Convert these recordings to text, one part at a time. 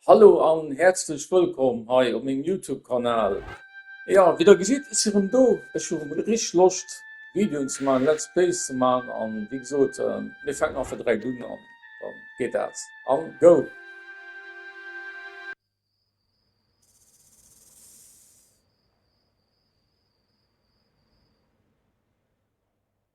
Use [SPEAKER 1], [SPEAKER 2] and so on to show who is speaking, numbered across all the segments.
[SPEAKER 1] Hallo an häerzlech wëllkomm hei op mengem Youtube Kanal. Jo wéi der gesidd si rëm do, ech hu rëm richteg Loscht Videoen ze maachen, Let's Plays ze maachen an wéi gesot mir fänken einfach direkt un an da geet dat an go.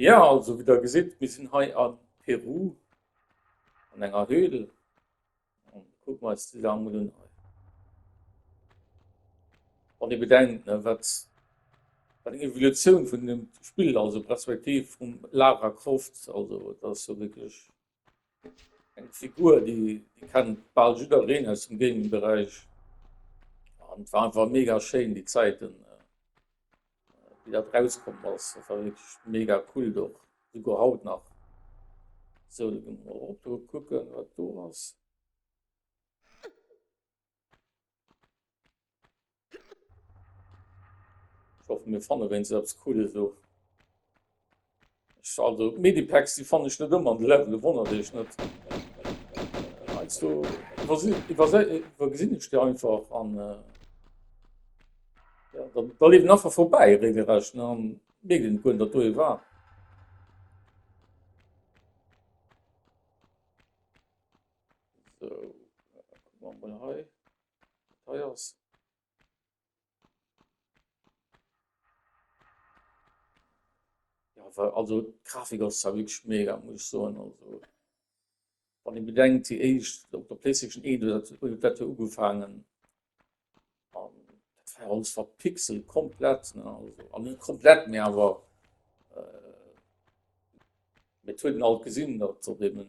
[SPEAKER 1] Ja, also wéi der gesitt, mir sinn hei a Peru an enger Höhl. An kucken mer eis déi Saach mol un hei. Wann ee bedenkt, ne, wat, wat eng Evolutioun vun deem Spill, also d'Perspektiv vum Lara Croft, also dat ass jo wierklech. Eng Figur, déi kennt bal jiddereen aus dem Gaming-Beräich. An et war einfach mega schéin, déi Zäiten, wéi dat rauskomm ass. Dat war wierklech mega cool och, souguer haut nach. Sou, da gi mer erop do kucken, wat do ass. Ech hoffen mir fanne wéinst eppes Cooles of. Also Medipacks déi fanne ech net ëmmer an de Level, wonnert Iech net. Heiansdo iwwergesinn ech déi einfach an äh, ja, da, da liewen einfach vorbei regelrecht ne, an mierken net guer, datt do ee war. Also d'Grafik ass zwar wierklech mega muss ech soen, also wann ee bedenkt déi éischt op der Playstation eent huet dat huet dat jo ugefaangen an dat war alles verpixelt komplett ne, also an net komplett mee awer et huet een alt gesinn datt se op deenen.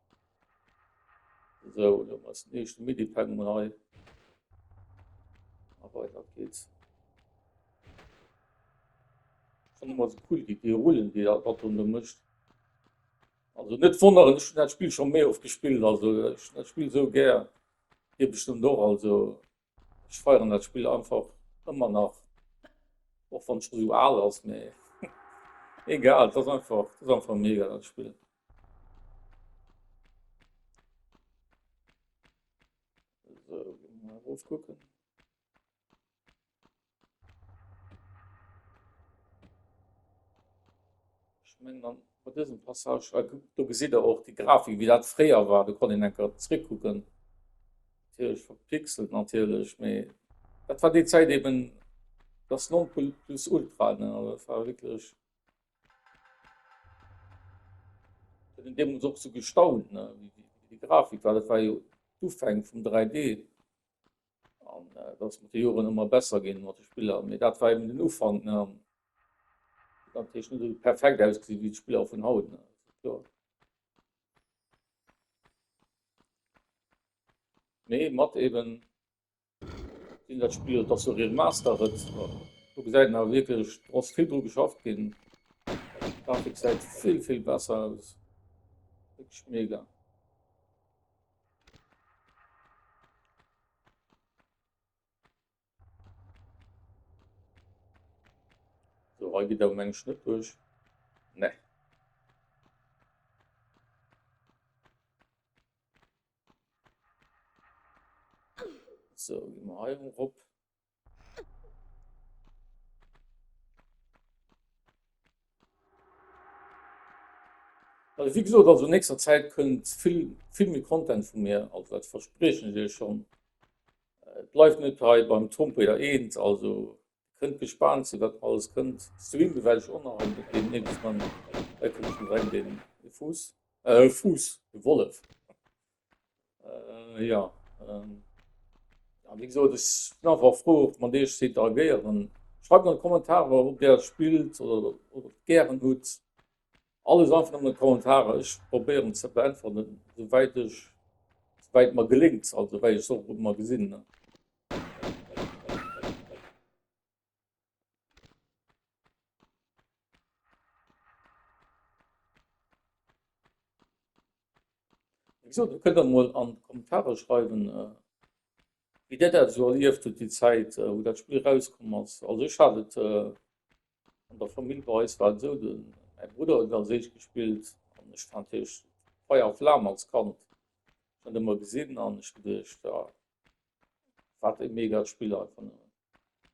[SPEAKER 1] So, dann ass den éischten Midi-Pennum hei. A weider geht's. Schon mal so cool, die, die Rullen, die er dort unten mischt. Also net wonneren, ech hun dat Spiel schon méi oft gespillt, also ech hun dat Spiel sou gär. Dir bestimmt och, also Ech feieren dat Spill einfach ëmmer nach, och wann et scho sou al ass, mee egal, et ass einfach, et ass einfach mega dat Spill. Esou, gi mer mol erof kucken. Ech mengen an bei dësem Passage hei, kuckt, do gesitt Der och déi Grafik, wéi dat fréier war. Do konnt een enk erëm zréckkucken. Natierlech verpixelt, natierlech, mee dat war déi Zäit eben das Nonplusultra, ne. Also dat war wierklech, et huet een deemools och esou gestaunt, ne, wéi déi Grafik war. Dat war jo d'Ufäng vum 3D. An äh, dat ass mat de Joren ëmmer besser ginn mat de Spiller. Mee dat war eben den Ufank. Ne? An dat heescht net esou perfekt ausgesinn wéi d'Spiller vun haut. Ne? Mee mat eben sinn dat Spiel dat so Remaster huet. Du gesäit na wieklech ass vill dru geschafft ginn. Grafik säit vill vill besser aus. Mega. So, hei geet awer mengen ech net duerch. Ne. So, gehen wir hier hoch. Also wéi gesot, also an nächster Zäit kënnt vill, vill méi Content vu mir, also dat verspriechen ech iech schonn. Et bleift net hei beim Trompeter eent, also kënnt gespaant sinn, wat nach alles kënnt. Streame well ech och nach en Deel deemnächst, mä hei kënnt schonn direkt e Fuuss, e Fuuss, e Wollef. Äh, ja. Ähm, ja, wie gesagt, ich bin einfach froh, ob man dich interagieren. Schreibt mal Kommentare, ob der spielt oder, oder gern gut. Alles einfach in den Kommentaren. Ich probiere zu beantworten, soweit ich weit man gelingt also weil ich so mal gesinn. So, du könnt mal an Kommentare schreiben, äh, wie der dat so erlieft huet die Zeit, äh, wo dat Spiel rauskom ass. Also ech hat et äh, an der Famill bei eis war so den mein Bruder huet als eich gespielt an ech fand hech Feier a Flam als Kand schon ëmmer gesinn an ech geduecht ja, Wat e mega Spill einfach nëmmen.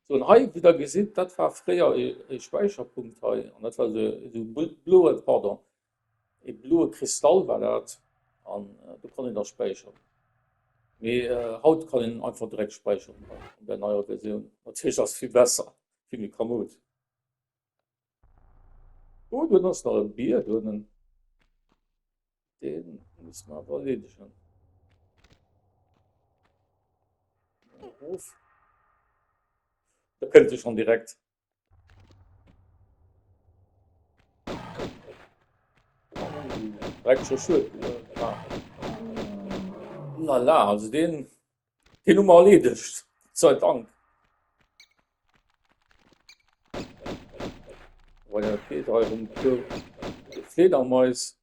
[SPEAKER 1] Sou an hei wéi der gesitt dat war fréier e Späicherpunkt hei an dat war esou esou e bloe pardon e bloe Kristall war dat an do konnt een da späicheren. Mee haut kann een einfach direkt späicheren hei an där neier Versioun. Natierlech ass vill besser, vill méi kamoud. Oh, dun ass nach en Bier donnen. Deen muss mer awer erleedegen. Of. Da kënnt e schon direkt. Rekt schon schued. Lala, also deen Deen hu mer erleedegt, sei Dank. Wa jo, et geet hei ëm d'Fledermais. Déi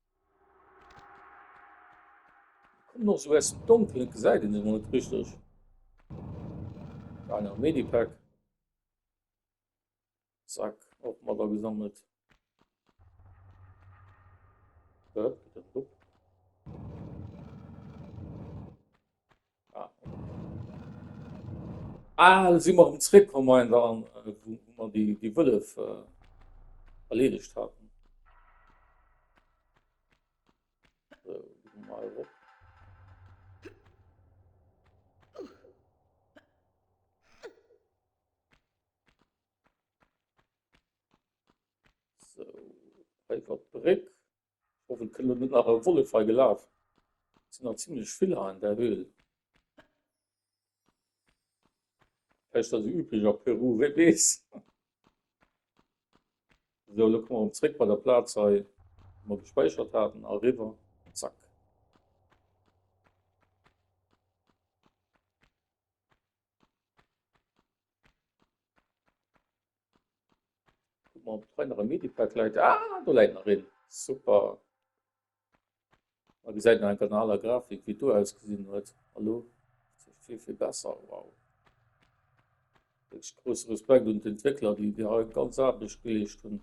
[SPEAKER 1] kommen och esou aus dem Donkelen, et gesäit een se emol net richteg. Hei nach e Medipack. Zack, och mat agesammelt. Äh, ah, ah, si mar dem Zréck kom en da an äh, wo man déi déi Wëllef äh, erledigt hatten. So, hei war d'Bréck. Ich hoffe, et kënnt elo net nach e Wollef hei gelaf. Et sinn nach zimmlech vill hei an der Höhl. Vläicht ass et üblech a Peru, wee weess. So, elo komme mer zréck bei der Plaz hei, wou mer gespäichert haten, eriwwer. Zack. Guck mal, ob hei nach ein Medipad läit. Ah, do läit nach een. Super. Man gesäit nach eng kanaler Grafik, wie do ausgesinn huet. Hallo? Vill, vill besser. Wow. Wirklich großen Respekt und Entwickler, die, die haben ganz Arbeit geleistet haben.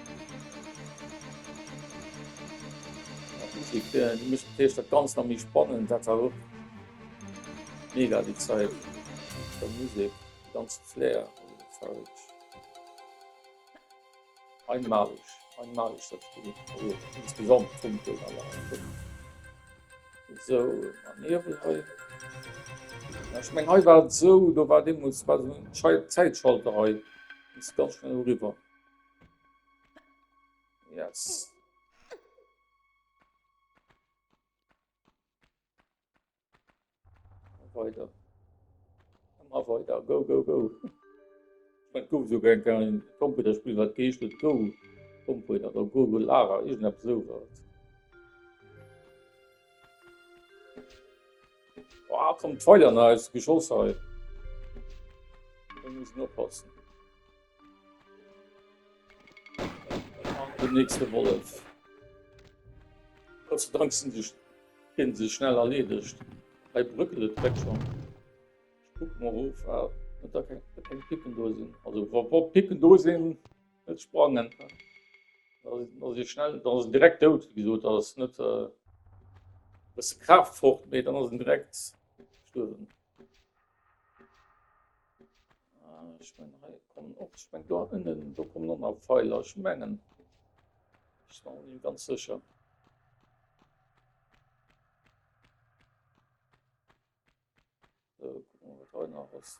[SPEAKER 1] Di Musek d'Feescht dat Ganzt nach méi spannend. Dat war och mega déi Zäit mat der Musek, de ganze Flair an de Farben. Einmaleg, einmaleg dat Spill. Also insgesamt Funken an allem drum. Esou a Niwwel hei. Ech meng hei war et esou, do war deemools war esou en Zäitschalter hei. Bis ganz schnell eriwwer. Yes. Weiter. Immer weiter. Go, go, go. Man guckt so gern kein Computerspiel, was geht mit Go. Computer oder Google Lara, ich hab so was. Boah, kommt Feuer nice, Geschoss halt. Da muss ich nur passen. Den nächste Wollef. Gott sei Dank sinn sech hien se schnell erleedegt. Hei brëckelt et direkt schonn. Ech kuck mol of, ob da keng keng Picken do sinn. Also wa wa Picken do sinn, net sprangen. Da da si schnell, da ass en direkt dout, wéi gesot. Da ass net e bësse Kraaft fort, mee dann ass en direkt gestuerwen. Ech mengen hei kommen och, ech mengen do ënnen, do kommen och nach Feiler, ech mengen. Ech war och net ganz sécher. Sou, kucke mer, wat hei nach ass.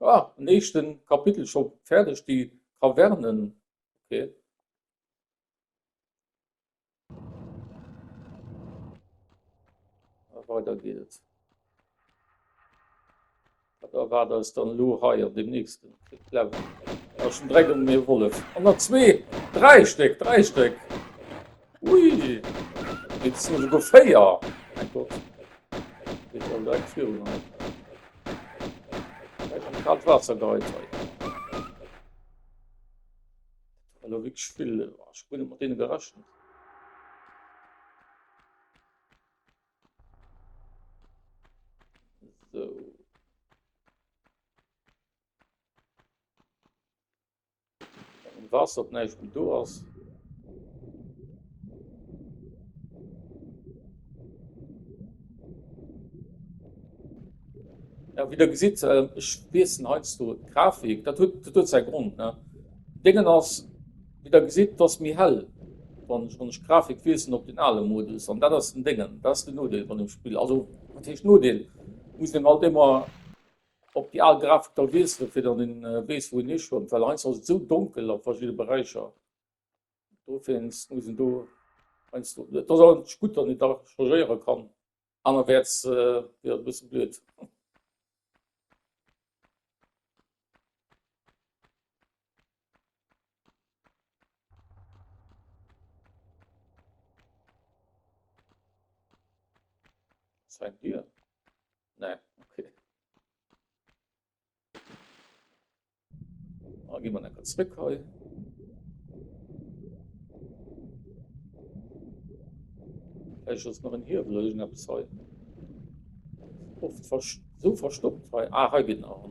[SPEAKER 1] Ah, en éischten Kapitel schon färdeg, déi Traverne, okay. Weider geet et. Da war das dann lo hei an dem nächsten Level. Aus dem Dreck und mir Wollef. An der 2, 3 Stück, 3 Stück. Ui! Et sinn esouguer véier! Mein Gott, déi sollen direkt virun eis. Vläicht am kaalt Waasser geheizert. Dat war elo wierklech vill. Ech hu guer net mat deene gerechent. Sou. Wann d'Waasser op näischt méi do ass. Ja, wéi der gesitt, ech wiesselen heiansdo d'Grafik. Dat huet, dat huet säi Grond. Ne? Déngen ass, wéi der gesitt, dat ass méi hell, wann ech, wann ech d'Grafik wiesselen op deen ale Modus. An dat ass den Déngen, dat ass den Nodeel vun dem Spill. Also, wat heescht Nodeel? Muss een halt ëmmer. Op déi al Grafik da wiesselen, fir datt een weess wou een hischwëmmt, well heiansdo ass et esou donkel a verschidde Beräicher, dowéinst muss een do heiansdo, et ass awer natierlech gutt, datt een da changéiere kann, anerwäerts wier et e bësse blöd. Wat fänkt Dir? Nee, okay. Oh, gehen wir dann kurz zurück hei. Vielleicht ist noch ein Hebel, ich habe es heute oft so verstopft. Hei. Ah, hier geht noch.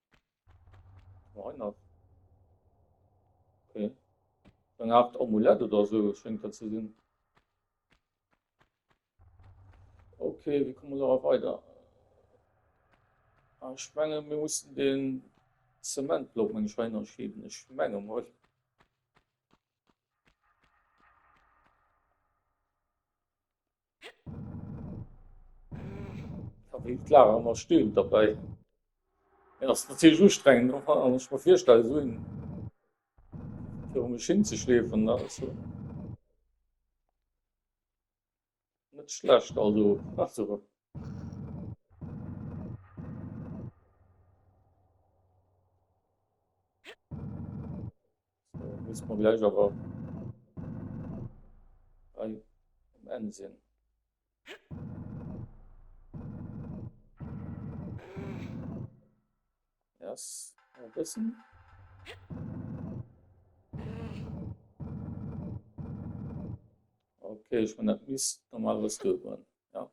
[SPEAKER 1] Nein, auf. Okay. Eine Art Amulett oder so scheint das zu sein. Okay, wie kommen wir da weiter? Ah, ich meine, wir mussten den Zementblock mein Schweiner schieben. Ich meine mal. Wéi d'Lara ëmmer stöhnt derbäi. Et ass natierlech ustrengend, och wann ech mer virstelle esou een viru mech hinzeschleefen. Dat ass jo net schlecht, also Besserung. Muss mer gläich awer hei um Enn sinn. Yes, nach e bëssen. Ok, ech menn dat misst normalerweis duer goen, jo.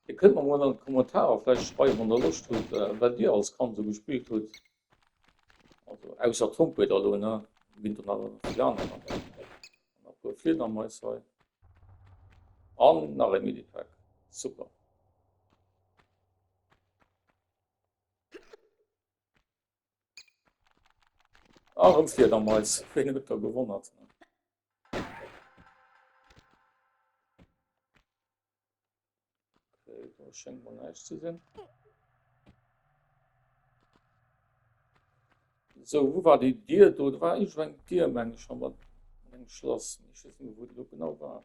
[SPEAKER 1] Dir kënnt mer mol an d'Kommentarer vläicht schreiwen, wann der Loscht hutt, wat Dir als Kand esou gespillt hutt. Also ausser Trompeter elo, ne? Ginn der nach erëm déi aner mat an. An e puer Fliedermais hei. An nach ee Minipack. Super! Arem Fliedermais, wéi huet der gewonnert. Schengt man neich ze sinn. So wo war déi Dir do war ech eng Dir meng schon mat eng Schlass wo lo genau war.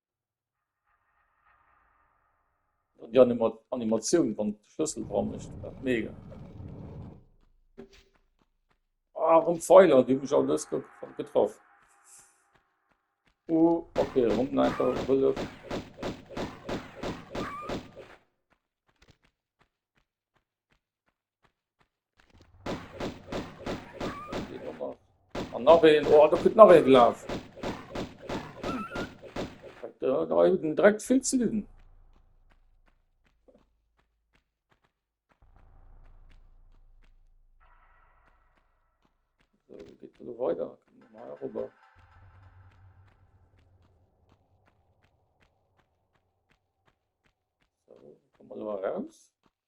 [SPEAKER 1] Die Animatioun wann Schlëssel dra mecht mega. Ah, rëm Pfeiler, déi mech alles getraff. Oh, okay, rëm einfach wëlle. An nach een, oh, da kritt nach ee gelaf. Da, da huet den Dreck vill ze dinn. So, geht da weiter. Mal rüber. So, kommen wir raus.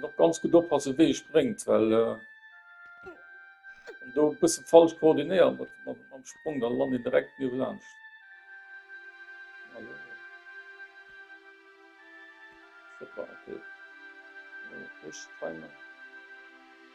[SPEAKER 1] Noch ganz gut oppassen wéi ee spréngt, well wann do e bësse falsch koordinéiert mam Sprong, da lant een direkt niewelaanscht.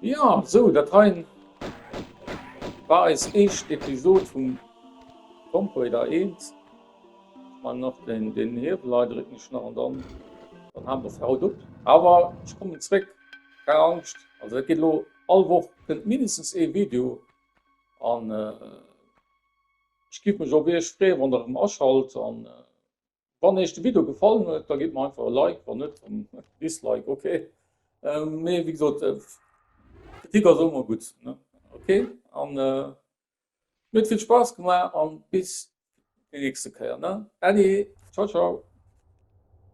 [SPEAKER 1] Jo, sou dat hei war eis eischt Episode vum Tomb Raider 1. Ech man nach den den Hiewel hei drécken ech nach an dann dann halen mer fir haut op. Awer ech kommen zréck, keng Angscht, also dat geet elo all Woch kënnt mindestens ee Video an ech giff mech op iech freeë wann der erëm aschalt an. Wann eech de Video gefallen huet, da gitt mer einfach e Like, wann net dann Dislike, ok. Mee wéi gesot Kritik ass och mol gutt. Ok an mir huet vill Spaass gemaach an bis déi nächste Kéier. Allez, ciao ciao.